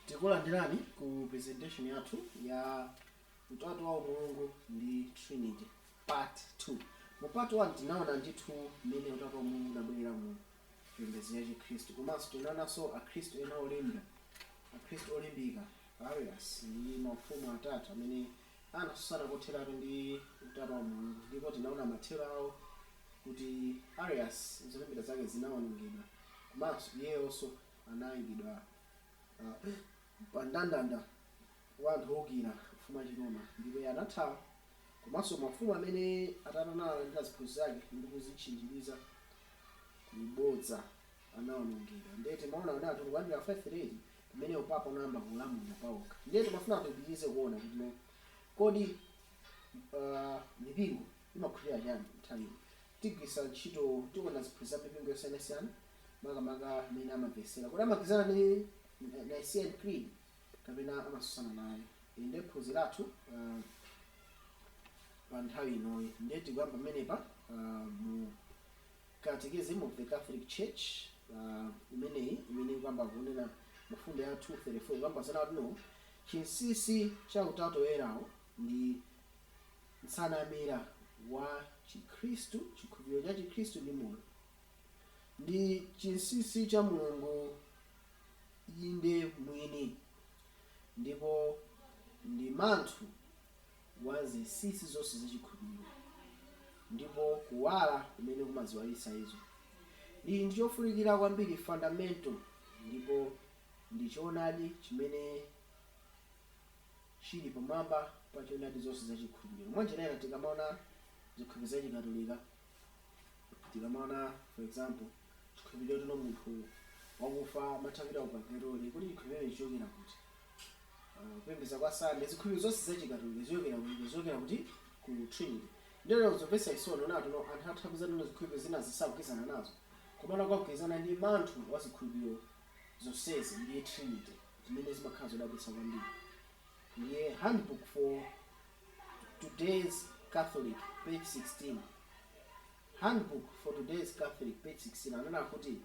takulandirani ku presentation yathu ya utatu wa mulungu ndi trinity part 2 mu part 1 tinaona ndithu mmene utatu wa mulungu unabwerera mu chipembedzo cha Chikhristu. Komanso tinaonanso Akhristu ena olemba, Akhristu olimbika, Arius, ndi mafumu atatu amene anatsutsana kotheratu ndi Utatu wa Mulungu, ndipo tinaona mathero awo kuti Arius zolembera zake zinawonongedwa komanso iyeyonso anaikidwa pa mndandanda wa anthu oukira ufumu wa Chiroma ndipo iye anathawa. Komanso mafumu amene atatu analandira ziphunzitso zake ndi kuzitchinjiriza ku bodza anawonongedwa. Ndiye timaona kuti anthu tikuyambira 538 pamene upapa unayamba kulamulira pawokha. Ndiye timafuna kuti tipitirize kuona kuti no, kodi uh, mipingo imakhulupirira chani nthawi ino? Tigwiritsa ntchito, tiona ziphunzitso za mipingo yosiyanasiyana makamaka mmene amamvetsera. Kodi amagwirizana ndi Nicene Creed? kapena amasusana naye ndiye phunziro lathu pa nthawi inoyi ndiye tikuyamba pamenepa mu Catechism of the Catholic Church imeneyi imene ikuyamba kunena mfundo ya 234 kuyamba kunena kuti no chinsisi cha utatu woyerawo ndi nsanamira wa Chikhristu chikhulupiriro cha Chikhristu ndi moyo ndi chinsisi cha Mulungu inde mwini ndipo ndi manthu wa zinsinsi zonse za chikhulupiriro, ndipo kuwala kumene kumaziwalitsa izo. Ndi, ndi chofunikira kwambiri, fundamental, ndipo ndi Choonadi chimene chiri pamwamba pa Choonadi zonse za chikhulupiriro. Mwanjira ina, tikamaona zikhulupiriro za Chikatolika, tikamaona, for example. Chikhulupiriro choti no munthu wakufa amatha kupita ku pagetoli kodi chikhulupiriro chichokera kuti Ah, kupembedza kwa sande zikhulupiriro zonse za chikatolika zichokera ku icho zichokera kuti ku trinity ndiye nzomvetsa chisoni kuona kuti no anthu amatha kupeza kuti no zikhulupiriro zina sakugwirizana nazo komano akugwirizana ndi manthu wa zikhulupiriro zonsezi ndiye trinity zimene zimakhala zodabwitsa kwambiri ndiye handbook for today's catholic page 16 Handbook for Today's Catholic, Page 16, anena kuti,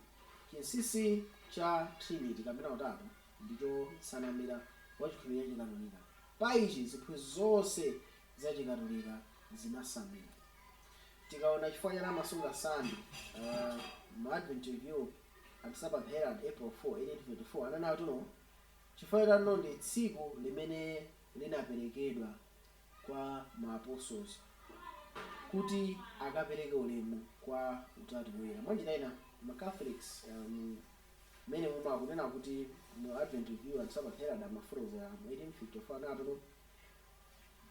Chinsinsi cha Trinity, kapena Utatu, ndicho nsanamira wa chikhulupiriro cha Chikatolika. Pa ichi ziphunzitso zonse za Chikatolika zinasamira. Tikaona chifukwa chani amasunga Sunday, uh, mu Advent Review and Sabbath Herald, April 4, 1824, ananena kuti no chifukwa choti anno ndi tsiku limene linaperekedwa. kwa ma apostles kuti akapereke ulemu kwa utatu woyera. Mwanjira ina, ma Catholics um, mene muma kunena kuti mu Advent Review and Sabbath Herald amafotokozera mu 1854 anati no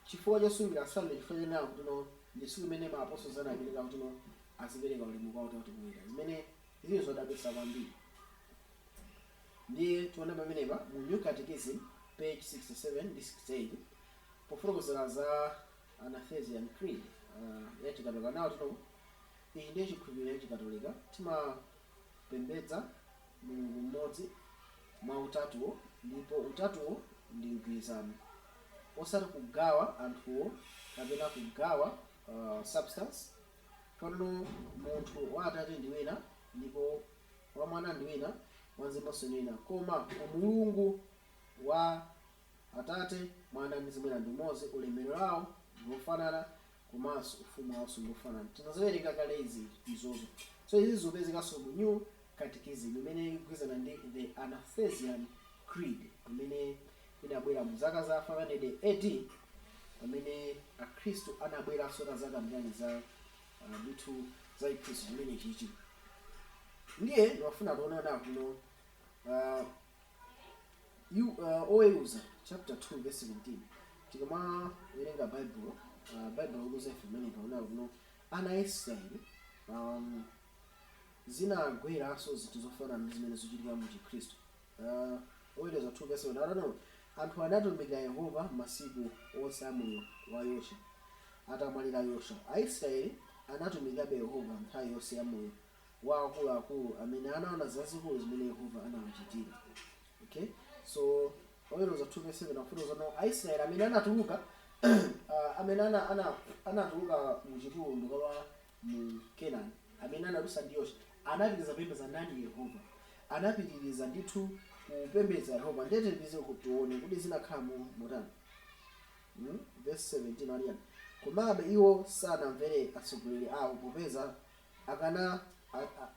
chifukwa chosungira Sunday chifukwa chonena kuti no ndi tsiku limene ma apostles anapereka kuti no azipereka ulemu kwa utatu woyera zimene zili zodabwitsa kwambiri. Ndiye tiona pamenepa mu New Catechism page 67 ndi 68 Pofotokozera za Athanasian Creed ya Chikatolika nawo tino, Ichi ndiye chikhulupiriro cha Chikatolika, Timapembedza Mulungu mmodzi mwa Utatuwo, ndipo Utatuwo ndi mgwirizano, osati kugawa anthuwo kapena kugawa substance, Pano munthu wa Atate ndi wina, ndipo wa Mwana ndi wina, wa Mzimunso ndi wina, koma Umulungu wa. Atate, Mwana ndi Mzimu Woyera ndi umodzi, ulemerero wao ndi wofanana komanso ufumu wao ndi wofanana. Tinaziwerenga kale izi izozo. So izi zikupezekanso mu New Catechism imene ikugwirizana ndi The Athanasian Creed imene inabwera mu zaka za 500 AD pamene akhristu anabweranso nadzakambirana za uh, ndithu za chiphunzitso chimenechichi. Ndiye ndimafuna tione ona kuno uh, Yu- uh, oweruza chapter 2 verse 17 tikamawerenga baibulo uh, baibulo likuwuza ife pamene paona kuti no ana a israeli um, zinagweranso zinthu zofanana ndi zimene zochitika mu chikhristu uh, oweruza 2 verse 17 akuti no anthu anatumikira yehova masiku onse a moyo wa yoswa atamwalira yoswa aisraeli anatumikirabe yehova nthawi yonse ya moyo wa akuluakulu amene anaona zazikulu zimene Yehova anawachitira. Okay? So oweruza 2 verse 7 akufotokoza no Aisraeli amene anatuluka uh, amene ana, ana, anatuluka mu chipululu nkukalowa mu Kenani amene anadusa ndi Yoswa anapitiriza kupembedza ndani Yehova anapitiriza ndithu kupembedza Yehova ndiye tipitirize tione kuti zinakhala motani hmm? verse 17 akuti chani komabe iwo sanamvere atsogoleri awo popeza popeza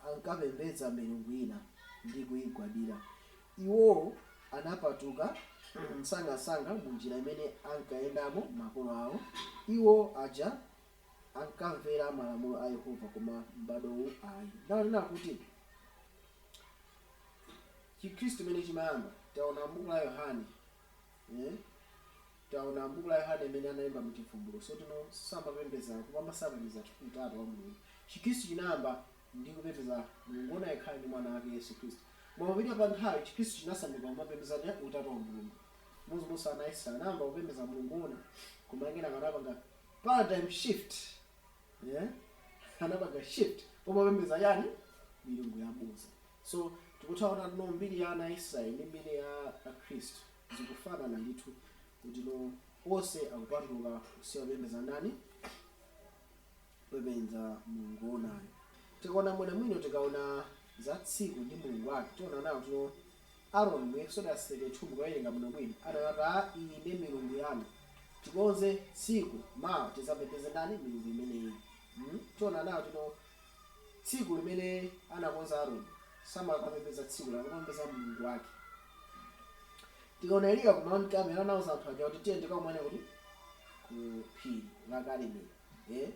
ankapembedza milungu ina ndi kuigwadira. Iwo anapatuka msangamsanga mu njira imene ankayendamo makolo awo, iwo aja ankamvera malamulo a Yehova, koma m'bado uwu ayi. Ndiye taona kuti Chikhristu chimene chimayamba, taona m'buku la Yohane. Eh? Taona m'buku la Yohane imene analemba mu Chivumbulutso. So kuti no samapembeza kupamba sapembeza utatu wa Mulungu. Chikristu chinayamba ndi kupembeza Mulungu woona yekhayo ndi mwana wake Yesu Kristu. Koma popita pa nthawi Chikristu chinasanduka kumapembeza utatu wa Mulungu. Chimodzimodzinso ana a Israel anayamba kupembeza Mulungu woona koma kenaka anapanga paradigm shift. Eh? Anapanga shift pomapembeza yani? Milungu yabodza. So tikutha kuona kuti no mbiri ya ana a Israel ndi mbiri ya a Khristu zikufanana ndithu kuti no onse akupanduka kusiya kupembedza ndani? Kupembedza Mulungu woonayo. Tikaona bwinobwino tikaona za tsiku ndi Mulungu wake tiona nawo kuti no Aaron mu Exodus 32 mukawerenga bwinobwino anati iyi ndiye milungu yanu tikonze tsiku mawa tizapembedze ndani? Milungu imeneyi. Hmm? Tiona nawo kuti no Tsiku limene anakonza Aroni samakapembedza tsiku lake, amakapembedza mulungu wake. Tikaona Eliya ku Mount Carmel anauza anthu aja kuti tiyeni tikakumane kuti ku phiri la Karimeli. Eh?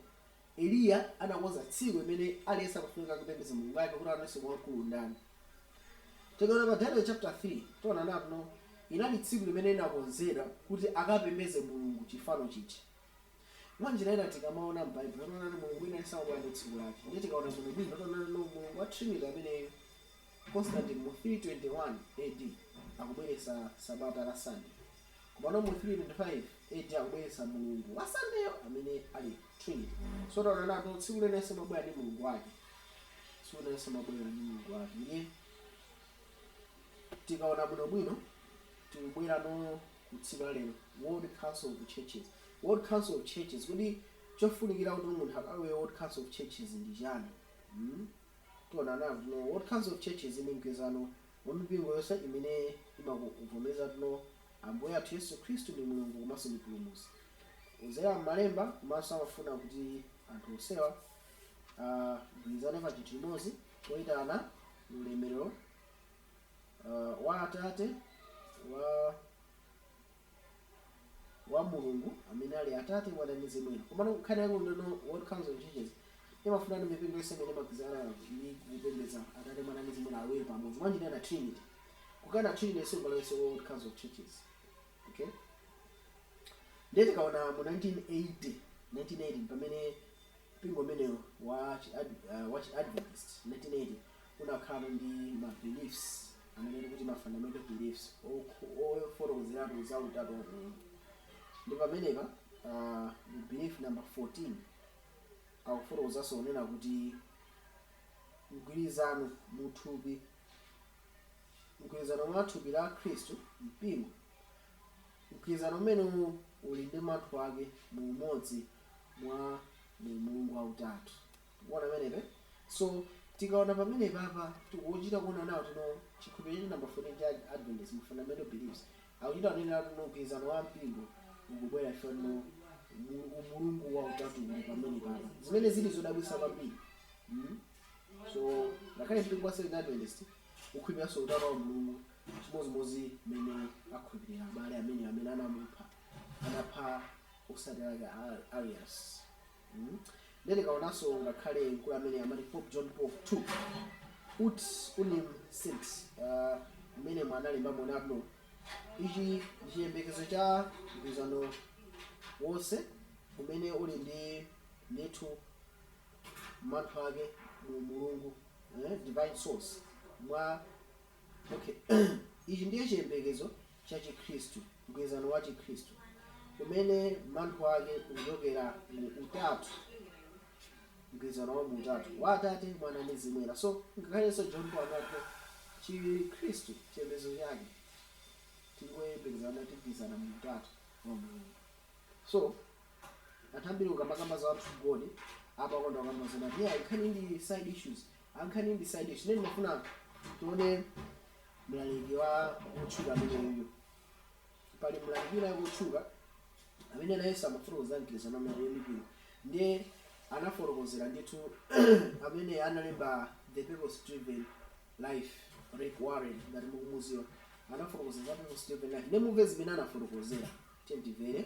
Eliya anakonza tsiku limene aliyense amafunika kupembedza mulungu wake kuti aone kuti wamkulu ndani. Tikaona pa Daniel chapter 3 tiona nawo kuti no inali tsiku limene inakonzedwa kuti akapembedze mulungu chifano chija. Mwa njira ina tikamaona m'Baibulo timaona kuti Mulungu wina aliyense amabwera ndi tsiku lake. Ndiye tikaona bwinobwino tiona kuti no Mulungu wa Trinity ameneyu Constantine mu 321 AD akubweretsa sabata la Sunday. Komano mu 325 AD akubweretsa Mulungu wa Sunday'yo amene ali Trinity. So tiona nawo tsiku lina lililonse limabwera ndi Mulungu wake. Tsiku lina lililonse limabwera ndi Mulungu wake. Ndiye tikaona bwinobwino tikubwera no ku tsiku la lero, World Council of Churches, World Council of Churches, kodi chofunikira kuti munthu akalowe World Council of Churches ndi chani? Hmm? Tiona nawo kuti no, World Council of Churches ndi mgwirizano wa mipingo yonse imene imakuvomereza kuti no, Ambuye athu Yesu Khristu ndi Mulungu komanso ndi Mpulumutsi kudzera m'malemba komanso amafuna kuti anthu onsewa agwirizane pa chinthu chimodzi poitana ulemerero uh, wa Atate wa wa Mulungu amene ali Atate, Mwana ndi Mzimu Woyera. Komano nkhani yake ndi kuti no World Council of Churches imafuna ndi mipingo yonse imene imagwirizana ndi kupembedza Atate, Mwana ndi Mzimu Woyera awiri pamodzi. Mwa njira ina Trinity. Kukana Trinity siungalowe World Council of Churches. Okay? Ndiye tikaona mu 1980, 1980 pamene Mpingo umenewu wa chi wa chi Adventist 1980 unakhala ndi ma beliefs amene tikuti ma fundamental beliefs ofotokozeratu za utatu wa Mulungu ndi pamenepa mu belief number 14 akufotokozanso kunena kuti mgwirizano mu thupi mgwirizano mwa thupi la Khristu, mpingo, Mgwirizano umenewu uli ndi manthu ake mu umodzi mwa Mulungu wa utatu. Mukuona pamenepa? So, tikaona pamenepapa, tikuchita kuona nawo tino chikhulupiriro chathu namba 14 cha Adventist mu fundamental beliefs. Akuchita kunenera tino mgwirizano wa mpingo ukubwera chifukwa tino mu- umulungu wa utatu uli pamenepapa. Zimene zili zodabwitsa kwambiri. Mm? So ngakhale mpingo wa Seventh Adventist ukhulupiriranso utatu wa Mulungu chimodzimodzi mmene akhulupirira abale amene amene anamupha anapha otsatira ake a Arius mm. Then tikaonanso ngakhale mkulu amene amati Pope John Paul 2 ut unum sint uh, mmene mwanalemba monabno ichi ndi chiyembekezo cha mgwirizano wonse umene uli ndi ndithu manthu ake mu umulungu, eh, divine source, mwa. Okay. Ichi ndiye chiyembekezo cha Chikhristu, mgwirizano wa Chikhristu, umene manthu ake ukuchokera mu utatu, mgwirizano wa mu utatu, wa Atate, Mwana, ndi Mzimu Woyera. So, ngakhalenso John Paul anati Chikhristu chiyembekezo chake tikuyembekezana tigwirizana mu utatu wa Mulungu. So, anthu ambiri ukamakamba za one true God amakonda kukamba zonena kuti yeah, nkhani ndi side issues nkhani ndi side issues nene ndimafuna tione mlaliki wa wotchuka ameneyuyu pali mlaliki wina wotchuka amene nayenso amafotokoza mgwirizano amene mipingo ndiye anafotokozera ndithu amene analemba the purpose driven life rick warren ngati mukumudziwa anafotokoza za purpose driven life ndiye mumve zimene anafotokozera tiyeni timvere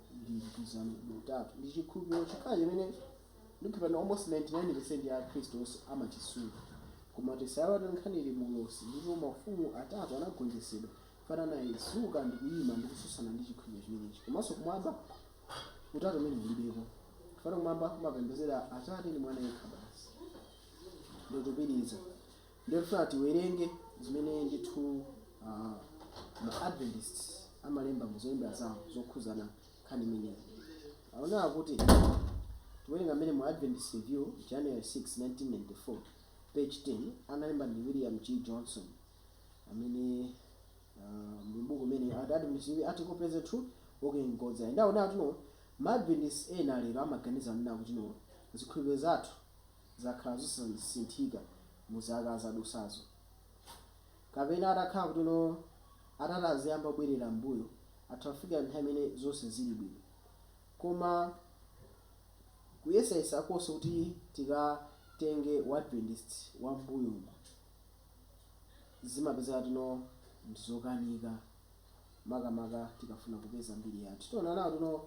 ndi mgwirizano mu Utatu. Ndi chikhulupiriro chokhacho chimene ndikukhulupirira kuti almost 99% ya Akhristu onse amachisunga. Koma tisaiwale kuti nkhani ili mu ulosi ndipo maufumu atatu anagonjetsedwa. Chifukwa anadzuka ndi kuyima ndi kutsutsana ndi chikhulupiriro chimenechi. Komanso kumwamba Utatu umenewu ulibeko. Chifukwa kumwamba kumapembedzedwa Atate ndi Mwana yekha basi. Ndikupitiriza. Ndikufuna tiwerenge zimene ndithu ma Adventist amalemba mu zolemba zawo zokhuzana nkhani imeneyi. Akunena kuti, tikuwerenga mmene mu Adventist Review, January 6, 1994, page 10, analemba ndi William G. Johnson, amene muli m'buku limeneli, akuti, Adventist Review article presents the truth walking in God's light. Ndiye akunena kuti, ma Adventist ena lero amaganiza kunena kuti, zikhulupiriro zathu zakhala zosasinthika mu zaka zadusazo. Kapena atakhala kutino atati aziyamba kubwerera m'mbuyo, atha kufikira nthawi imene zonse zili bwino. Koma kuyesayesa konse kuti tikatenge wadventist wa m'mbuyomo zimapezeka kutino ndi zokanika makamaka tikafuna kupeza mbiri yathu. Tiona kuti no.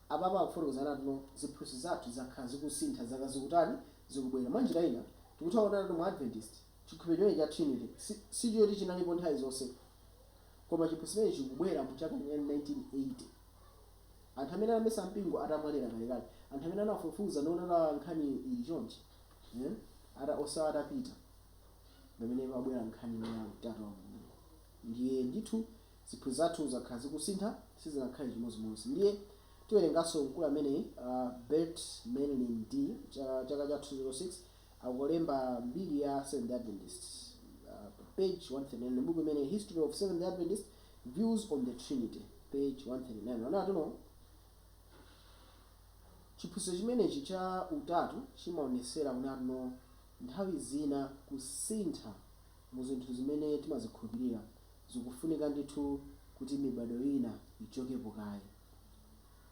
Apapa akufotokoza kuti anatuno ziphunzitso zathu zakhala zikusintha zaka zikutani zikubwera. Mwa njira ina, tikutha kuona anatu mu Adventist, chikhulupiro chimenechi cha Trinity sichoti chinalipo nthawi zonse, koma chiphunzitso chimenechi chikubwera mu chaka cha 1980. Anthu amene anayambitsa mpingo atamwalira kalekale, anthu amene anafufuza ndi kuona kuti nkhani ili chonchi, eh, onsewa atapita, pamene pabwera nkhani imene ya Utatu wa Mulungu. Ndiye ndithu Ziphunzitso zathu zakhala zikusintha, sizinakhale chimodzimodzi. Ndiye tiwerenganso mkulu ameneyi, a Burt Merlin D, cha, chaka cha 2006, akulemba mbiri ya Seventh-day Adventist, a, pa page 139 m'buku imene History of Seventh-day Adventist, Views on the Trinity, page 139. Anena kuti, no. Chiphunzitso chimenechi cha Utatu chimaonetsera kunena kuti, no, nthawi zina kusintha mu zinthu zimene timazikhulupirira, zikufunika ndithu kuti mibado ina ichokepo kaye.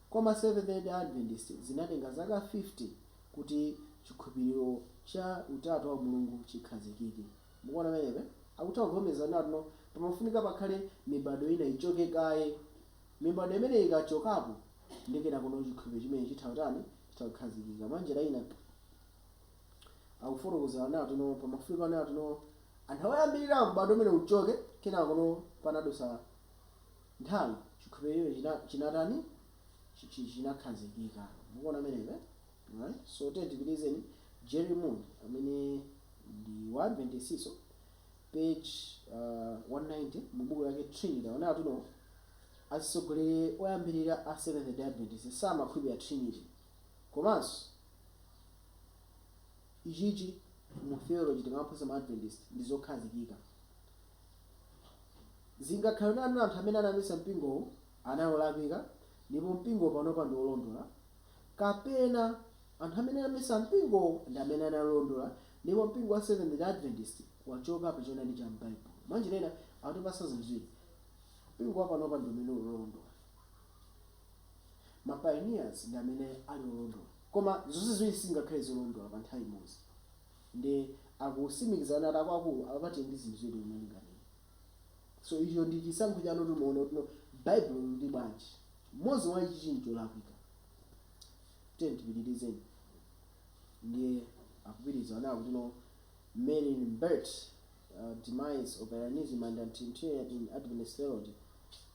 Koma Seventh Day Adventist zinatenga zaka 50 kuti chikhupiriro cha utatu wa Mulungu chikhazikike. Mukuona pamenepe? Akutha kuvomereza kunena kutino pamafunika pakhale mibado ina ichoke kaye. Mibado imeneyi ikachokapo, ndiye kenakono chikhulupiriro chimenechi chitha kutani? Chitha kukhazikika. Mwanjira ina. akufotokoza anati no pamafunika anati no anthu awayambirira m'bado umene uchoke kenako no panadusa nthawi chikhulupiriro china chinatani chi- chi- chinakhazikika mukuona pamenepe right so tiye tipitizeni jerry moon amene ndi wa adventistinso page uh, 190 mu buku lake trinity anati no atsogoleri oyambirira a seventh day adventist samakhulupirira trinity Komanso, ichichi mu theology timaphunzitsa ma Adventist ndi zokhazikika. Zingakhale kuti anthu amene anayambitsa mpingo anali olakwika ndipo mpingo panopa ndi olondola, kapena anthu amene anayambitsa mpingo ndi amene anali olondola ndipo mpingo wa Seventh-day Adventist wachoka pa choonadi cha m'Bible. Mwanjira ina, akutipatsa zinthu ziwiri, Mpingo wa panopa ndi umene uli olondola. Ma pioneers ndi amene ali olondola. Koma zonse ziwiri sizingakhale zolondola pa nthawi imodzi. Ndiye akusimikizira kunena kuti akuakulu apapa tili ndi zinthu ziwiri zomwe tinganene. So icho ndi chisankho chanu kuti muone kuti no Bible likuti bwanji. Mmodzi mwa ichichi ncholakwika. Tiyeni tipitirizeni. Ndiye akupitiriza kunena kuti no Merlin Burt, uh, Demise of Arianism and Trinitarian in Adventist Theology,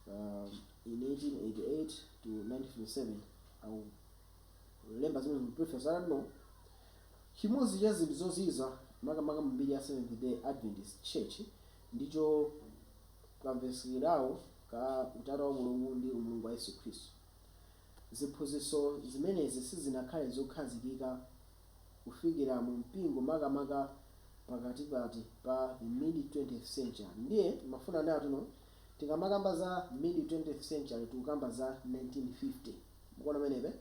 um, in 1888 to 1957 akulemba zimene mu preface anati no chimodzi cha zinthu zozizwitsa makamaka mu mbiri ya seventh day adventist church ndicho kamvesekedwawo ka utatu wa mulungu ndi umulungu wa yesu khristu ziphunzitso zimenezi sizinakhale zokhazikika kufikira mu mpingo makamaka pakatikati pa the mid 20th century ndiye ndimafuna anati no Tikamakamba za mid 20th century tikukamba za 1950 mukuona pamenepe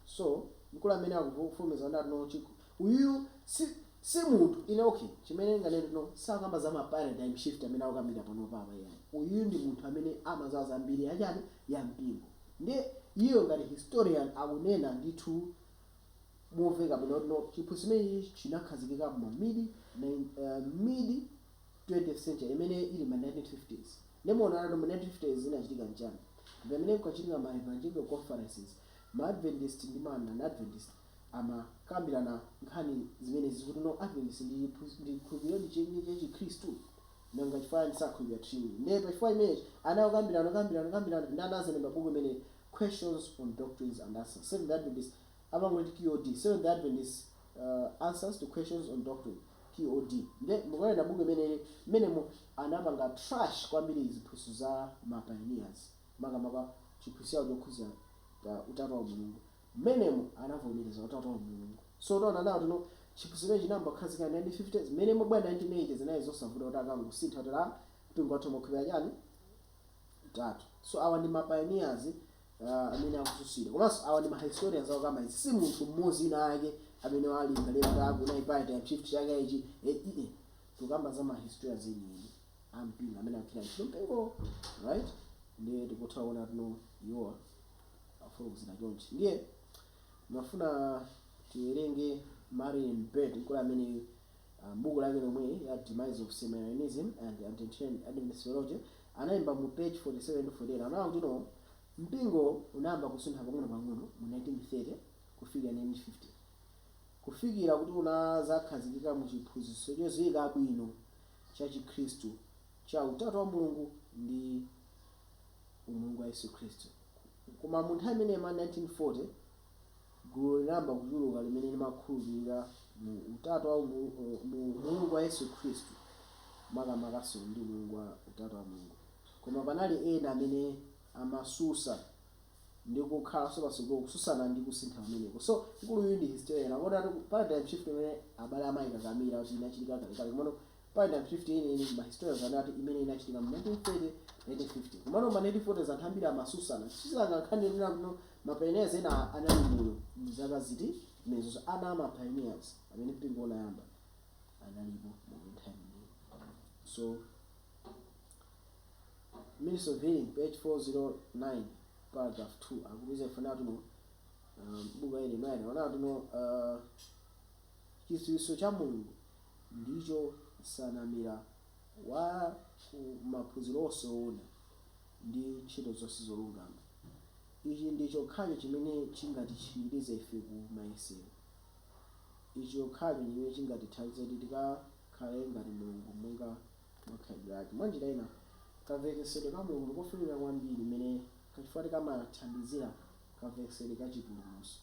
so mkulu amene akufulumiza kuti no chik uyuyu si si munthu ine okay chimene ndinganene kuti no sakukamba za ma paradigm shift amene akukambidwa panopa apa iyayi uyuyu ndi munthu amene amadziwa za mbiri ya chani ya mpingo ndiye iyeyo ngati historian akunena ndithu momveka bwino kuti no chiphunzitso chimenechi chinakhazikika mma mid nine aah mid 20th century imene ili ma 1950s nde muonanatu mu 1950s zinachitika nchani mpamene kukachitika ma evangelical conferences ma adventist ndi ma non adventist amakambirana nkhani zimenezi kuti no adventist ndi ndi chikhulupiliro chenicheni cha chikhristu nanga chifukwa chani sakhulupira trinity nde pa chifukwa chimenechi anakambirana kukambirana kukambirana nde anazalemba buku limeneli questions on doctrines and answers seventh adventist amangoti QOD, Seventh Day Adventists Answers to Questions on Doctrine, QOD, nde mukawerenga buku limeneli mmenemo anapanga trash kwambiri ziphunzitso za ma pioneers makamaka chiphunzitso chawo chokhudza utatu wa mulungu mmenemo anavomereza utatu wa mulungu so taonani now kuti no chiphunzitso chimene chinayamba kukhazikika 1950 mmene imabwera 1980 zinali zosavuta kuti akangosintha kotero mpingo wathu umakhulupirira chani utatu. So awa ndi ma pioneers uh, amene akususira komanso awa ndi ma historians akukamba izi si munthu mmodzi winawake amene walingalira kuti akuona paradigm shift yake ichi e, e, e. tukamba za ma historians enieni a mpingo amene akukira ntchito mpingo right ndiye tikutha kuona kuti no iwowa afotokozera chonchi ndiye mafuna tiwerenge marian bed mkulu amene a m'buku lake lomweli la Demise of Semi-Arianism and Anti-Trinitarianism Adventist Theology, analemba mu page 47 to 48, anaona kuti no mpingo unayamba kusuntha pang'onopang'ono mu 1930 kufikira 1950, kufikira kuti unadzakhazikika mu chiphunzitso chodziwika bwino cha Chikhristu cha Utatu wa Mulungu ndi Umulungu wa Yesu Khristu. Koma mu nthawi imeneyo ma 1940, Gulu linayamba kuchuluka limene limakhulupirira mu utatu wa umulungu, olo mu Umulungu wa Yesu Khristu, makamakanso ndi Umulungu wa utatu wa Mulungu. Koma panali ena amene amasusa ndi kukhalanso patsogolo kususana ndi kusintha kumeneko. So, mkulu uyu ndi historian, akuona kuti paradigm shift imene abale amaikakamira kuti inachitika kalekale, komano paradigm shift yeniyeni ndi ma historians anati imene inachitika mu 1930, 1950. Komano mma 1940s anthu ambiri amasusana, kususana nkhani yonena kuti no, Ma pioneers ena anali moyo mu zaka ziti menezozo? Ana ama pioneers amene mpingo unayamba analipo moyo nthawi imeneyo? So Ministry of Healing page 409 paragraph 2 akutiuza ife kuti no um, buku ili likuona kuti no uh, chidziwitso cha Mulungu ndicho nsanamira wa ku maphunziro onse oona ndi ntchito zonse zolungama. Ichi ndi chokhacho chimene chingatitchinjirize ife ku mayesero. Ichi chokhacho ndi chimene chingatithandize kuti tikakhale ngati Mulungu monga mwa khalidwe lake. Mwanjira ina, kamvetsetsedwe ka Mulungu ndi kofunika kwambiri chifukwa kuti kamathandizira kamvetsetsedwe ka chipulumutso.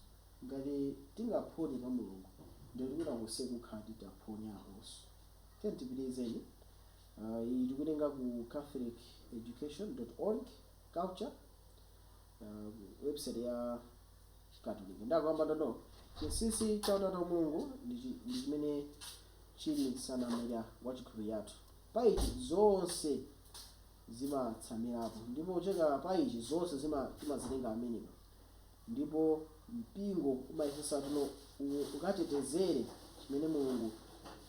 Ngati tingaphonye ka Mulungu, ndiye kuti kwina konseku kukhala kuti taphonyakonso. Tiyeni tipitirizeni. Uh, iyi tikuitenga ku catholiceducation.org culture uh, website ya chikatolika nde akukamba kuti no chinsinsi cha utatu wa mulungu ndi chi- ndi chimene chili nsanamira wa chikhulupiriro chathu pa ichi zonse zimatsamirapo ndipo kuchokera pa ichi zonse zima- timazitenga amenewa Ndipo mpingo umayesetsa kuti no, u- ukatetezere chimene Mulungu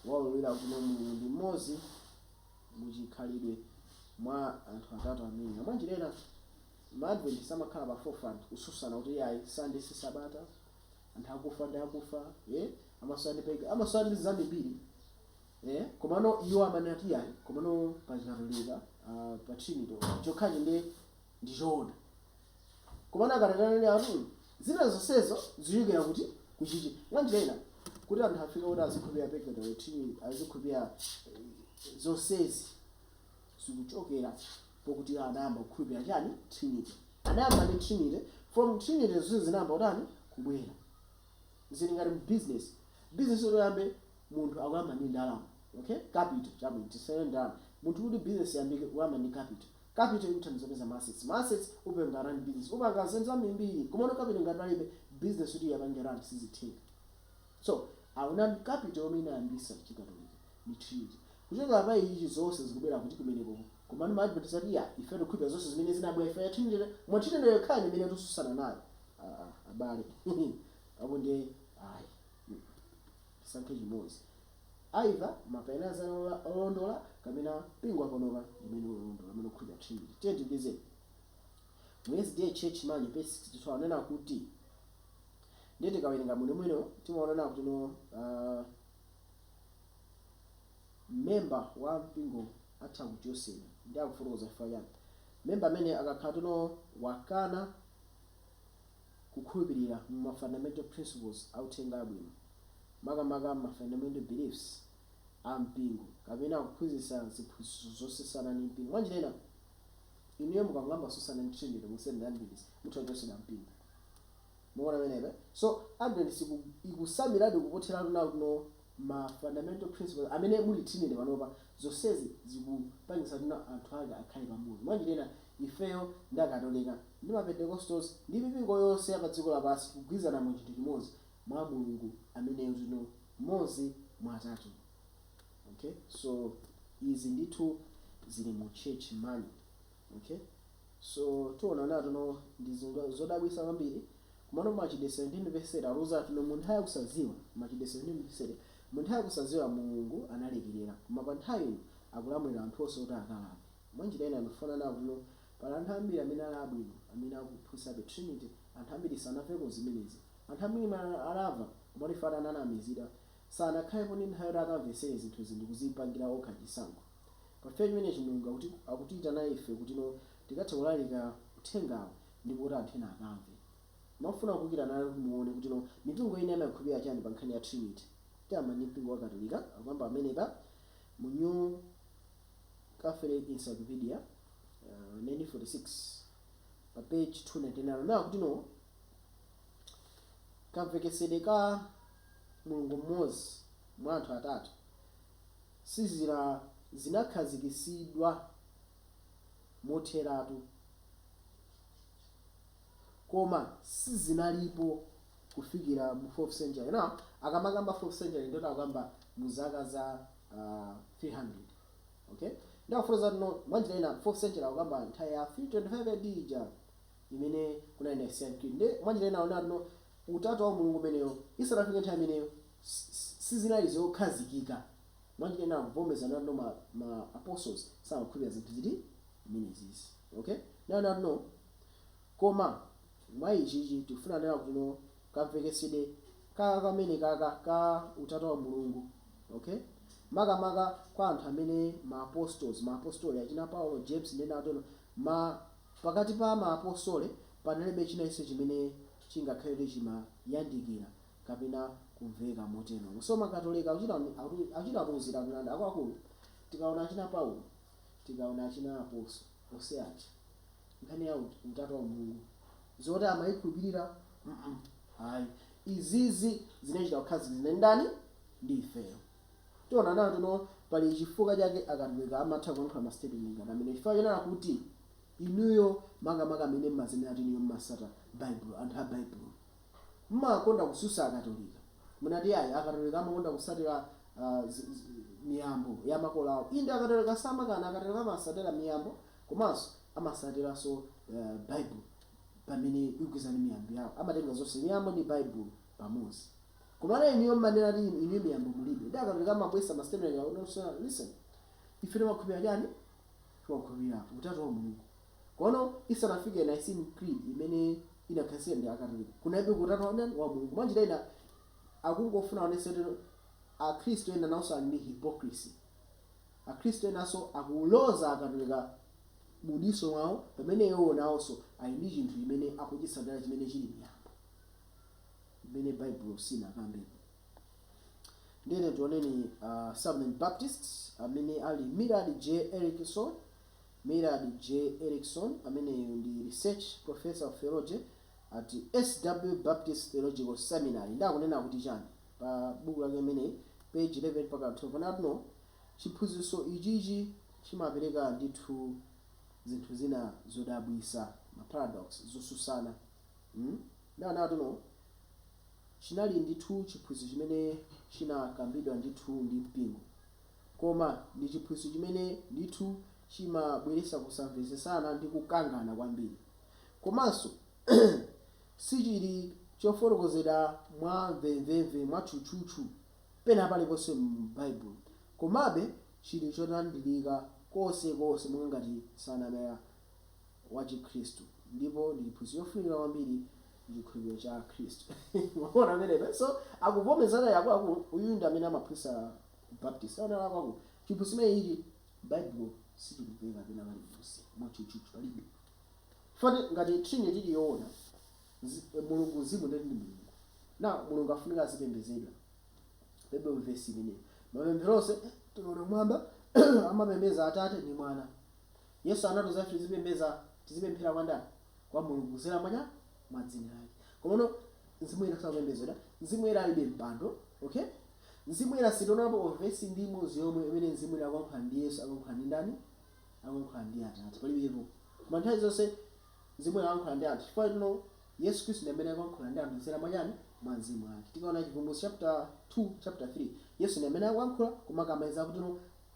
waululira kuti no, Mulungu ndi mmodzi mu chikhalidwe mwa anthu atatu amenewa. Mwa njira ina, Maadventist amakhala pa forefront kususana kuti iyayi Sunday si sabata, anthu akufa ndi akufa, eh, amasusana ndi pega, amasusana ndi zambiri eh, komano iwo amanena kuti iyayi, komano pa chikatolika uh, pa trinity chokhachi ndi Ndi choona. Komano akanati anene, arum, zina zonsezo zikuchokera kuti? Ku chichi. Mwanjira ina, kuti anthu afike poti azikhulupirira purgatory, tchimo, azikhulupirira, zonsezi zikuchokera pokuti iwo anayamba kukhulupirira chiyani? Trinity. Anayamba ndi Trinity, from Trinity zonse zinayamba kutani? Kubwera. Ziri ngati mu bizinesi. Bizinesi kuti uyambe, munthu akuyamba ndi ndalama. Okay? Capital. Chabwino, tisanene ndalama. Munthu kuti bizinesi iyambike, uyamba ndi capital. Capital ikuthandiza kupeza ma assets. Ma assets upanga run business. Upanga zinthu zambirimbiri. Komano capital ngati palibe, business kuti ikapange run sizitheka. So, awonani capital yomwe inayambisa chikatolika ndi Trinity. Kuchokera pa ichichi zonse zikubwera kuti? Kumenekoko. Komano ma adventist ati iyayi, ife tikukhulupirira zonse zimene zinabwera chifukwa cha Trinity, koma Trinity yokhayo ndi imene tususana nayo. Aaa abale. Apo ndiye ayi. Tisankhe chimozi. either mapainias ali olondola kapena mpingo wa panopa ndi umene uli olondola umene ukukhulupirira Trinity. Tiyeni tipitirize. Mu sda Church Manual page 62 akunena kuti ndiye tikawerenga bwinobwino timaona kunena kuti no uh, member wa mpingo atha kuchotsedwa ndi akufotokoza chifukwa chani member amene akakhala kuti no wakana kukhulupilira mu ma fundamental principles a Uthenga Abwino, makamaka ma fundamental beliefs a mpingo, kapena kuphunzitsa ziphunzitso zosusana ndi mpingo. Mwanjira ina, inuyo mukangoyamba kususana ndi Trinity mu Seventh Day Adventist, mutha kuchotsedwa mpingo. Mukuona pamenepa? So, Adventist iku, ikusamiladi kupothera nawo, no. ma fundamental principles amene muli Trinity panopa zonsezi zikupangisa kuti anthu ake akhale pamodzi mwanjira ina ifeyo ndi akatolika ndi ma Pentecostals ndi mipingo yonse ya padziko lapansi tikugwirizana mu chinthu chimodzi mwa Mulungu ameneyo ndi mmodzi mwa atatu okay so izi ndithu zili mu church manual. Ok so tikuona kunena kuti no ndi zinthu zodabwisa kwambiri komano Machitidwe 17 verse 30 akutiuza kuti no munthawi yakusaziwa Machitidwe 17 verse 30 munthawi yakusaziwa mulungu analekelera koma panthawi ino akulamulira anthu onse kuti akalape mwanjira ina ndikufuna kunena kuti no pali anthu ambiri amene ali abwino amene akuphunzitsabe trinity anthu ambiri sanamveko zimenezi anthu ambiri mwina anamva komatu chifukwa ananamizidwa sanakhalepo ndi nthawi yoti akamvesere zinthuzi ndikuzipangira okha chisankho Pa ifeyo chimene Mulungu akutiitanira ife kutino tikathe kulalika uthengawo ndipo kuti anthu ena akamve. Ndimafuna kukhala nanu kuti muone kutino mipingo ina imaikhulupirira chani pa nkhani ya Trinity. Tiyamba ndi mpingo wa Katolika akukamba pamenepa mu New Catholic Encyclopedia, uh, 1946 pa page 299 akunena kutino kamveketsedwe ka Mulungu mmodzi mwa anthu atatu, sizira zinakhazikitsidwa motheratu, koma sizinalipo kufikira mu 4th century. Now akamakamba 4th century ndiye kuti akukamba mu zaka za uh, 300 okay ndiye akufotokoza kutino mwanjira ina 4th century akukamba nthawi ya 325 AD ija imene kunali Nicene Creed nde mwanjira ina akunena kutino utatu wa mulungu umeneyo isanafike nthawi imeneyo sizinali zokhazikika. Mwanjira ina akuvomerezana kutino ma ma apostles samakhulupirira zinthu ziti zimenezizi okay akunena kutino koma mwa ichichi tikufuna kunena kutino kamvekesede kaka kamene kaka ka utatu wa mulungu okay makamaka kwa anthu amene ma apostles ma apostole achina paulo james ndi ena kutino ma pakati pa ma apostole panalibe china chilichonse chimene chingakhale kuti chimayandikira kapena kumveka moteromo. So ma Katolika akuchita akuchita kutiuzira mlandu akuluakulu tikaona achina Paulo tikaona achina apostoli onse aja nkhani ya utatu wa Mulungu zoti amayikhulupirira mm ayi izizi zinachita kukhazikitsidwa ndi ndani ndi ifeyo tikuona kutino pali chifukwa chake akatolika amatha kuyankhula ma statement ngati amene chifukwa chonena kuti inuyo makamaka amene mmazinena kuti inuyo mmasata Bible anthu a Bible mmakonda kususa akatolika mmati ayi akatolika amakonda kusatila miyambo yamakolo awo inde akatolika samakana akatolika amasatila miyambo komanso amasatilanso bible pamene ikugwizana miyambo yawo amatenga zonse miyambo ndi bible pamozi komano inuyo mmanena kuti inuyo miyambo mulibe nde akatolika amabwesa ma statement awo nonsenu listen ife timakhulupila chani timakhulupila utatu wa mulungu Kono isanafike Nicene Creed imene inakhazikitsidwa ndi Akatolika, kunalibe Utatu wa ndani? wa Mulungu. Mwanjira ina, akungofuna aonetse kuti Akhristu ena nawonso ali ndi hypocrisy. Akhristu enanso akuloza Akatolika mu diso mwawo pamene iwowo nawonso ali ndi chinthu chimene akuchitsatira chimene chili miyambo imene Baibulo silinakambepo. Ndiye tiyeni tioneni a Southern Baptists amene ali Millard J. Erickson, Millard J. Erickson, ameneyu ndi research professor of theology at SW Baptist Theological Seminary, ndiye akunena kuti chani pa buku lake limeneli page 11-12 akunena kuti ino chiphunzitso ichichi chimapereka ndithu zinthu zina zodabwisa ma paradox, zosutsana hmm ndiye akunena kuti ino chinali ndithu chiphunzitso chimene chinakambidwa ndithu ndi mpingo. Koma ndi chiphunzitso chimene ndithu chimabweretsa kusamvetsetsana ndi kukangana kwambiri. Komanso sichili chofotokozedwa mwa mvemvemve, mwatchutchutchu, pena paliponse m'Baibulo. Komabe, chili cholandirika konsekonse monga ngati nsanamira wa Chikhristu, ndipo ndi chiphunzitso chofunika kwambiri mu chikhulupiriro cha Khristu. Mwaona pamenepa? So, akuvomerezana akuluakulu, uyu ndi amene amaphunzitsa. Baptist aona kuti chiphunzitso chimene ichi Baibulo sichikupezeka pena paliponse mwatchutchutchu palibe. Poti ngati Trinity ili yoona, zi, Mulungu Mzimu ndiye kuti ndi Mulungu. Now Mulungu afunika azipembedzedwa. Palibemo vesi imeneyo. Mapemphero onse eh, tikaona kumwamba amapembedza Atate ndi Mwana. Yesu anatiuza ife tizipembedza tizipemphera kwa ndani? kwa Mulungu kudzera mwa chani? Mwa dzina lake. Komano Mzimu Woyera sakupembedzedwa. Mzimu Woyera alibe mpando. Okay? Mzimu Woyera sitionapo vesi ndi imodzi yomwe imene Mzimu Woyera akulankhulana ndi Yesu, akulankhulana ndi ndani? Akulankhulana ndi Atate. Palibepo. Koma nthawi zonse Mzimu Woyera akulankhulana ndi anthu. Chifukwa choti ino Yesu Khristu ndi amene akulankhulana ndi anthu kudzera mwa chani? Mwa Mzimu wake. Tikaona Chivumbulutso chapter 2, chapter 3. Yesu ndi amene akulankhula koma akamaliza akuti ino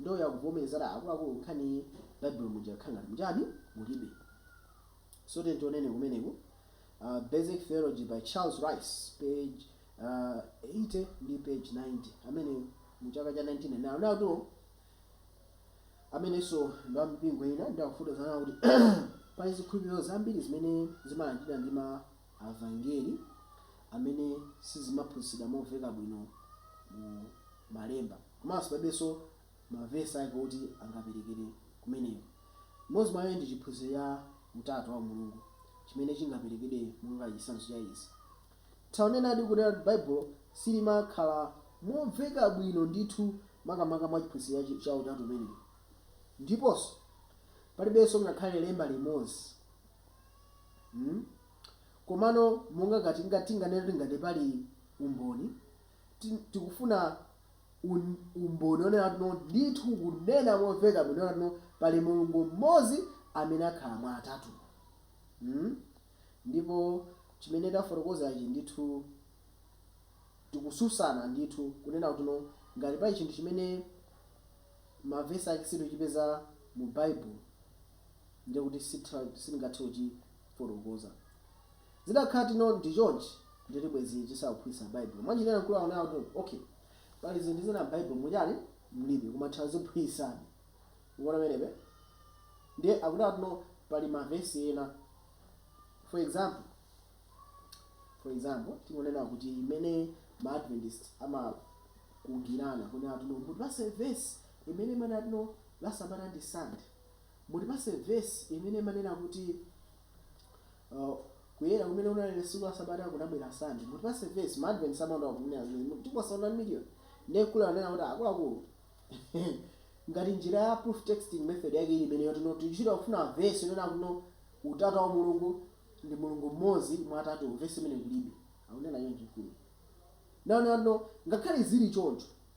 Ndiye akuvomerezana akuluakulu nkhaniyi baibulo muja akukhala ngati muchani? mulibe so tiyeni tionenso kumeneko basic theology by Charles Ryrie page 80 ndi page 90 amene mu chaka cha 1999 anena kuti amenenso ndi wa mipingo ina ndiye akufotokoza kuti pali zikhulupiriro zambiri zimene zimalandiridwa ndi ma evangeli zimene sizimaphunzitsidwa momveka bwino mu malemba komanso palibenso ma verse ake oti angaperekere kumeneko. Imodzi mwa izo ndi chiphunzitso cha utatu wa umulungu chimene chingaperekedwe monga chitsanzo cha izi. Tingathedi kunena kuti Baibulo silimakhala momveka bwino ndithu makamaka mwa chiphunzitso cha cha utatu umenewu. Ndiponso, palibenso ngakhale lemba limodzi. mm komano monga ngati ngati tinganene kuti ngati pali umboni ti- tikufuna un, umboni onena kuti no ndithu kunena momveka bwino onena kuti no pali mulungu mmodzi amene akhala mwa atatu mm? ndipo chimene tafotokoza ichi ndithu tikutsutsana ndithu kunena kuti no ngati pali chinthu chimene mavesi ake sitikuchipeza mu baibulo ndiye kuti sitingathe kuchifotokoza. Zidakhala kuti no ndi chonchi ndiye kuti bwezi tisakuphunzitsa Baibulo. Mwa njira ina mkuluyu akunena kuti okay pali zinthu zina m'Baibulo mu chani mulibe koma taziphunzitsani. Mukuona penepa? Ndiye akunena kuti no pali mavesi ena for example for example tingonena kuti imene ma Adventist amakhulupirana kunena kuti no mutipatse vesi imene imanena kuti no la sabata ndi Sunday. Mutipatse verse imene imanena kuti kuyera kumene kunali tsiku la sabata kunabwera Sunday. Mutipatse verse, ma Adventist amakonda kunena zimenezi, tikupatsani 1 million. Ndiye mkulu ananena kuti akuluakulu, ngati njira ya proof texting method yake ili imeneyo kuti no tikuchita kufuna verse yonena kuti no utatu wa umulungu ndi Mulungu mmodzi mwa atatuwo, verse imeneyo kulibe. Akunena choncho mkuluyo. Akunena kuti no ngakhale zili choncho,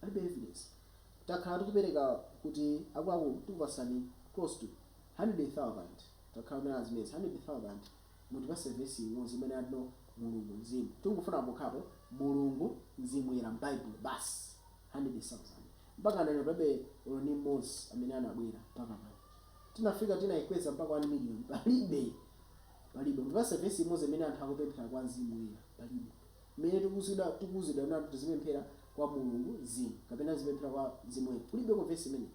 Palibe evidence takhala tikupereka kuti akuluakulu tikupasani close to hundred thousand takhala nazo zimenezi hundred thousand mutipase vesi imodzi imene amati no mulungu mzimu tikungofuna pokhapo mulungu mzimu woyera mbaibulo basi hundred thousand mpakana lero palibe olo ndi mmodzi amene anabwera mpaka pano tinafika tinaikweza mpaka one million palibe palibe mutipase vesi imodzi imene anthu akupemphera kwa mzimu woyera palibe. mmene tikuuzidwa tikuuzidwa ndi anthu tizipemphera kwa mulungu mzimu kapena tizipemphera kwa mzimu woyera kulibeko verse imeneyo